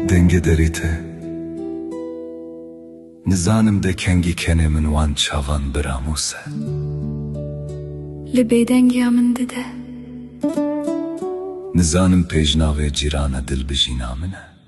Dengê derê te Nizanim de kengî kenê min wan çavan biramûs e. Li bêdengiya min dide. Nizanim pêjnavê cîrana dilbijîna min e.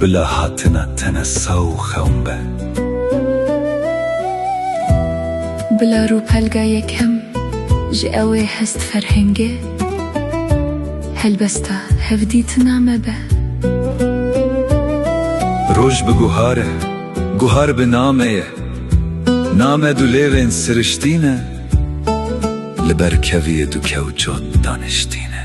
Bila hatina tene saw û xewn be. Bila rûpelga yekem ji ewê hest ferhengê, helbesta hevdîtina me be. Roj bi guhar e, guhar bi name ye. Name du lêvên siriştî ne, li ber keviyê du kewçot daniştî ne.